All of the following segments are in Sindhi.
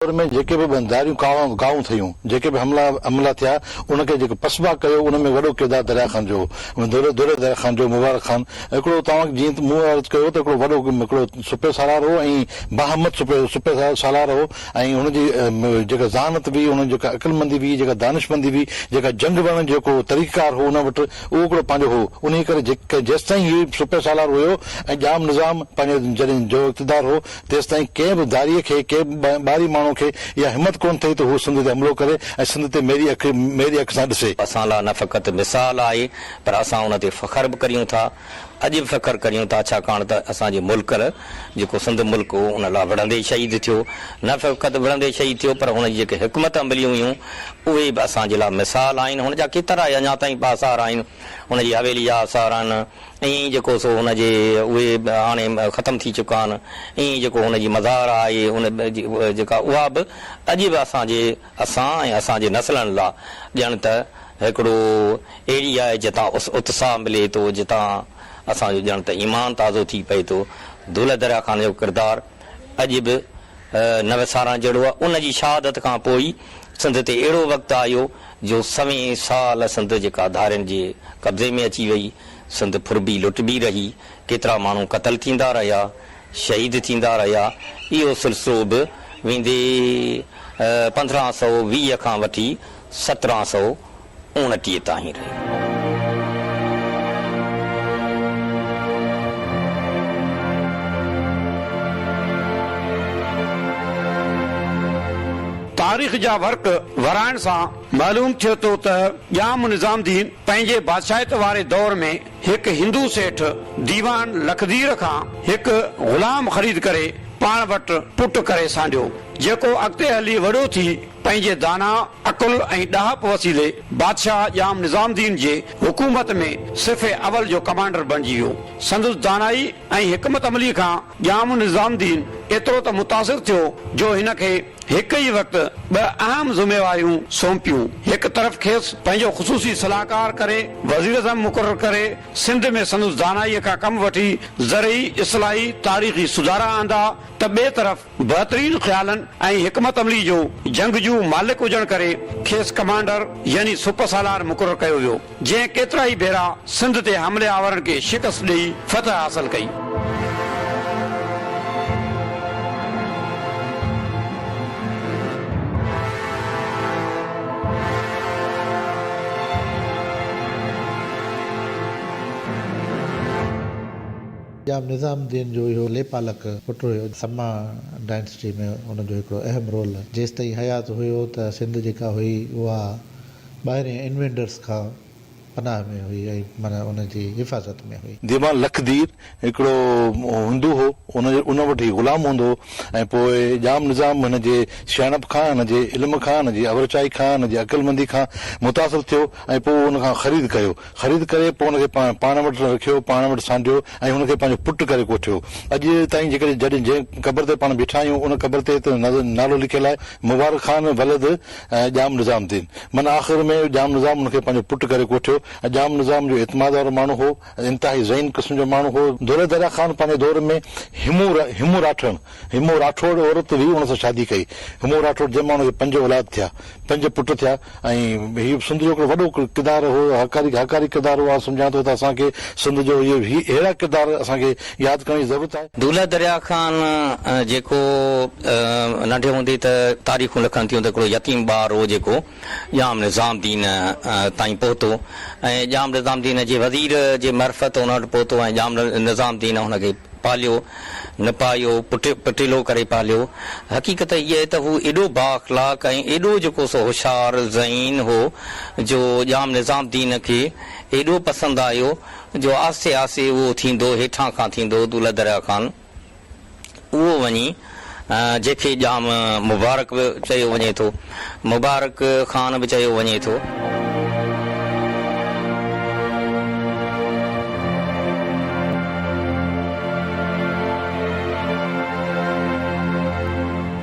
دور ۾ جيڪي به ٻنڌاريون ڪاهون ٿيون، جيڪي به حملا عملا ٿيا، ان کي جيڪو پسبا ڪيو، ان ۾ وڏو ڪردار دريا خان جو هو. دوري دوري دريا خان جو، مبارڪ خان ۽ هڪڙو توهان جيئن ته مون عرض ڪيو ته هڪڙو وڏو هڪڙو سپهه سالار هو ۽ باهمت سپهه سپهه سالار هو ۽ هن جي جيڪا ذهانت هئي، هن جي جيڪا عقلمندي هئي، جيڪا دانشمندي هئي، جيڪا جنگ وڙهڻ جو جيڪو طريقه ڪار هو ان وٽ اهو هڪڙو پنهنجو هو. انهيء ڪري جيڪ جيستائين هيء سپهه سالار هيو ۽ ڄام نظام پنهنجو جڏهن جو اقتدار هو، تيستائين ڪنهن به ڌاريء کي، ڪنهن به ٻاهرين ماڻهوء کي اها همت ڪونه ٿئي ته هو سنڌ تي حملو ڪري ۽ سنڌ تي ميري اک، ميري اک سان ڏسي. اسان لاء نه فقط مثال آهي پر اسان ان تي فخر به ڪريون ٿا. اڄ به فخر ڪريون ٿا ڇاڪاڻ ته اسان جي ملڪ جيڪو سنڌ ملڪ هو ان لاء وڙهندي شهيد ٿيو. نه فقط وڙهندي شهيد ٿيو پر هن جي جيڪي حڪمت عمليون هيون اهي به اسان جي لاء مثال آهن. هن جا ڪيترا ئي اڃا تائين به آثار آهن. هن جي حويلي جا آثار آهن. ائين ئي جيڪو سو هن جي اهي هاڻي ختم ٿي چڪا آهن، ائين ئي جيڪو هن جي مزار آهي ان جيڪا اها به اڄ به اسان جي اسان ۽ اسان جي نسلن لا ڄڻ ته هڪڙو اهڙي آهي جتان اتساهه ملي ٿو، جتان اسان جو ڄڻ ته ايمان تازو ٿي پئي ٿو. دولهه دريا خان جو ڪردار اڄ به نه وسارڻ جهڙو آهي. ان جي شهادت کان پوء ئي سنڌ تي اهڙو وقت آيو جو سوين سال سنڌ جيڪا ڌارين جي قبضي ۾ اچي وئي، سنڌ ڦربي لٽبي رهي، ڪيترا ماڻهو قتل ٿيندا رهيا، شهيد ٿيندا رهيا، اهو سلسلو به ويندي پندرهن سؤ ويهه کان وٺي سترهن سؤ اوڻٽيهه تائين رهيو. تاريخ جا ورق ورائڻ سان معلوم ٿئي ٿو ته ڄام نظام الدين پنهنجي بادشاهيت واري دور ۾ هڪ هندو سيٺ ديوان لکدير کان هڪ غلام خريد ڪري پاڻ وٽ پٽ ڪري سانڍيو، جيڪو اڳتي هلي وڏو ٿي پنهنجي داناء عقل ۽ ڏاهپ وسيلي بادشاهه ڄام نظام الدين جي حڪومت ۾ صف اول جو ڪمانڊر بڻجي ويو. سندس دانائي ۽ حڪمت عملي کان ڄام نظام الدين ايترو ته متاثر ٿيو جو هن کي هڪ ئي وقت ٻه اهم ذميواريون سونپيون. هڪ طرف کيس پنهنجو خصوصي صلاحڪار ڪري وزيراعظم مقرر ڪري سنڌ ۾ سندس دانائيء کان ڪم وٺي زرعي اصلاحي تاريخي سڌارا آندا ته ٻئي طرف بهترين خيالن ۽ حڪمت عملي جو جنگجو مالڪ هجڻ ڪري کيس ڪمانڊر يعني سپه سالار مقرر ڪيو ويو. جنهن ڪيترائي ڀيرا سنڌ تي حملي آورن کي شڪست ڏئي فتح حاصل ڪئي. ڄام نظام الدين جو اهو ليپالڪ پٽ هيو. سما ڊائنسٽي ۾ هن جو هڪڙو اهم رول جيستائين حيات هيو ته سنڌ جيڪا هئي اها. ٻاهرين انويڊرز کان پناهه ۾ هئي ۽ معنيٰ ان جي حفاظت ۾ هئي. ديوان لک دير هڪڙو هندو هو، ان وٽ هي غلام هوندو هو ۽ پوء ڄام نظام هن جي سياڻپ کان، هن جي علم کان، هن جي اورچائي کان، هن جي عقلمندي کان متاثر ٿيو ۽ پوء ان کان خريد ڪيو. خريد ڪري پوء ان کي پاڻ وٽ رکيو، پاڻ وٽ سانڍيو ۽ هن کي پنهنجو پٽ ڪري ڪوٺيو. اڄ تائين جيڪڏهن جنهن قبر تي پاڻ بيٺا آهيون، ان قبر تي ته نالو لکيل آهي، مبارڪ خان ولد. ۽ ڄام نظام دين. من آخر ۾ ڄام نظام ان کي پنهنجو پٽ ڪري ڪوٺيو ۽ ڄام نظام جو اعتماد وارو ماڻهو هو ۽ انتهائي ذهين قسم جو ماڻهو هو. دولهه دريا خان پنهنجي دور ۾ همو همو راٺڙڻ، Himo Rathod، عورت ويهه ان سان شادي ڪئي. همو راٺوڙ جنهن مان ان کي پنج اولاد ٿيا، پنج پٽ ٿيا ۽ هي به سنڌ جو هڪڙو وڏو ڪردار هو، هاڪاري هاڪاري ڪردار هو. آئون سمجهان ٿو ته اسان کي سنڌ جو هي اهڙا ڪردار اسان کي ياد ڪرڻ جي ضرورت آهي. دولهه دريا خان جيڪو ننڍي هوندي ته تاريخون لکن ٿيون ته هڪڙو يتيم ٻار هو جيڪو ڄام نظام الدين تائين پهتو ۽ ڄام نظام الدين جي وزير جي معرفت ان وٽ پهتو ۽ ڄام نظام الدين هن کي پاليو نپايو پٽيلو ڪري پاليو حقيقت هيء آهي ته هو ايڏو بااخلاق ۽ ايڏو جيڪو سو هوشيار ذهين هو جو ڄام نظام الدين کي ايڏو پسند آيو جو آھستي آھستي اھو ٿيندو ھيٺان کان ٿيندو دولھه درياء کان اھو وڃي جنھن کي ڄام مبارڪ به چيو وڃي ٿو، مبارڪ خان به چيو وڃي ٿو.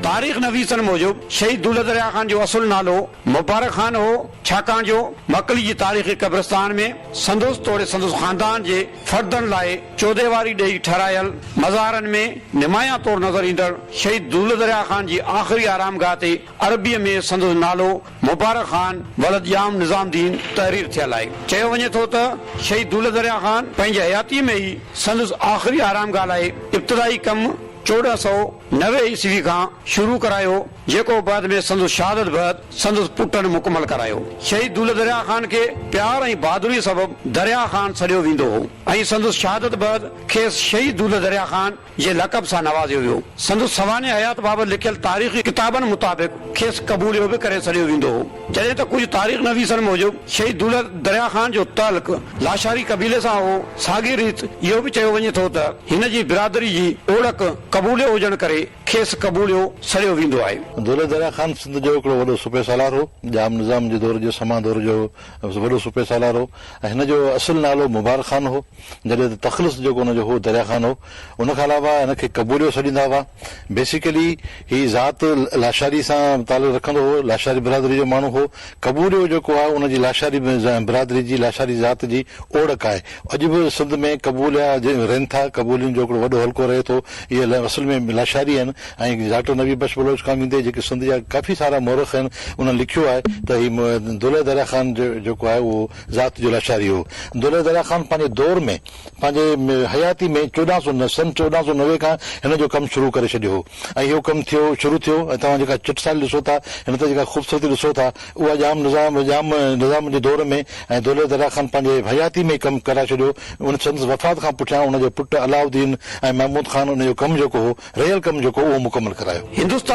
تاريخ نويسن موجب شھيد دولھه درياء خان جو اصل نالو مبارڪ خان ھو. ڇاڪاڻ جو مڪلي جي تاريخي قبرستان ۾ سندس توڙي سندس خاندان جي فردن لاء چوديواري ڏئي ٺهرايل مزارن ۾ نمايان طور نظر ايندڙ شهيد دولت دريا خان جي آخري آرامگاهه تي عربيء ۾ سندس نالو مبارڪ خان ولد ڄام نظام دين تحرير ٿيل آهي. چيو وڃي ٿو ته شهيد دولت دريا خان پنهنجي حياتيء ۾ ئي سندس آخري آرامگاهه لاء ابتدائي ڪم چوڏهن سؤ نوي عيسوي کان شروع ڪرايو، جيڪو بعد ۾ سندس شهادت بعد سندس پٽن مڪمل ڪرايو. شهيد دولت دريا خان کي پيار ۽ بهادري سبب دريا خان سڏيو ويندو هو ۽ سندس شهادت بعد کيس شهيد دولت دريا خان جي لقب سان نوازيو ويو. سندس سوانح حيات بابت لکيل تاريخي ڪتابن مطابق کيس قبوليو به ڪري سڏيو ويندو هو. جڏهن ته ڪجهه تاريخ نويسن موجب شهيد دولت دريا خان جو تعلق لاشاري قبيلي سان هو. ساڳي ريت اهو به چيو وڃي ٿو ته هن جي برادري جي اوڙڪ قبوليو هجڻ ڪري کيس قبوليو سڙيو ويندو آهي. دولت دريا خان سنڌ جو هڪڙو وڏو صوبي سالار هو. ڄام نظام جي دور جو سما دور جو وڏو صوبي سالار هو ۽ هن جو اصل نالو مبارڪ خان هو جڏهن ته تخلص جيڪو هن جو هو دريا خان هو. ان کان علاوه هن کي قبوليو سڏيندا هئا. بيسيڪلي هي ذات لاشاري سان تعلق رکندو هو. لاشاري برادري جو ماڻهو هو. ڪبوريو جيڪو آهي ان جي لاشاري برادري جي لاشاري ذات جي اوڙڪ آهي. اڄ به سنڌ ۾ قبوليا رهن ٿا. قبولين جو هڪڙو وڏو حلقو رهي ٿو. اهي اصل ۾ لاشاري آهن ۽ ڊاڪٽر نبي بخش بلوچ کان ويندي جيڪي سنڌ جا ڪافي سارا مورخ آهن انهن لکيو آهي ته هي دولهه دريا خان جيڪو آهي اهو ذات جو لاشاري هو. دولهه دريا خان پنهنجي دور ۾. پنهنجي حياتي ۾ چوڏهن سؤ نو سن چوڏهن سؤ نوي کان هن جو ڪم شروع ڪري ڇڏيو هو ۽ اهو ڪم ٿيو شروع ٿيو ۽ توهان جيڪا چٽ سالي ڏسو ٿا هن تي جيڪا خوبصورتي ڏسو ٿا اها ڄام نظام ڄام نظام جي دور ۾ ۽ دولهي درا خان پنهنجي حياتي ۾ ڪم ڪرائي ڇڏيو ان سندس وفات کان پٺيان ان جو پٽ علاؤ الدين ۽ محمود خان ان جو ڪم جيڪو هو رهيل ڪم جيڪو اهو مڪمل ڪرايو. هندوستان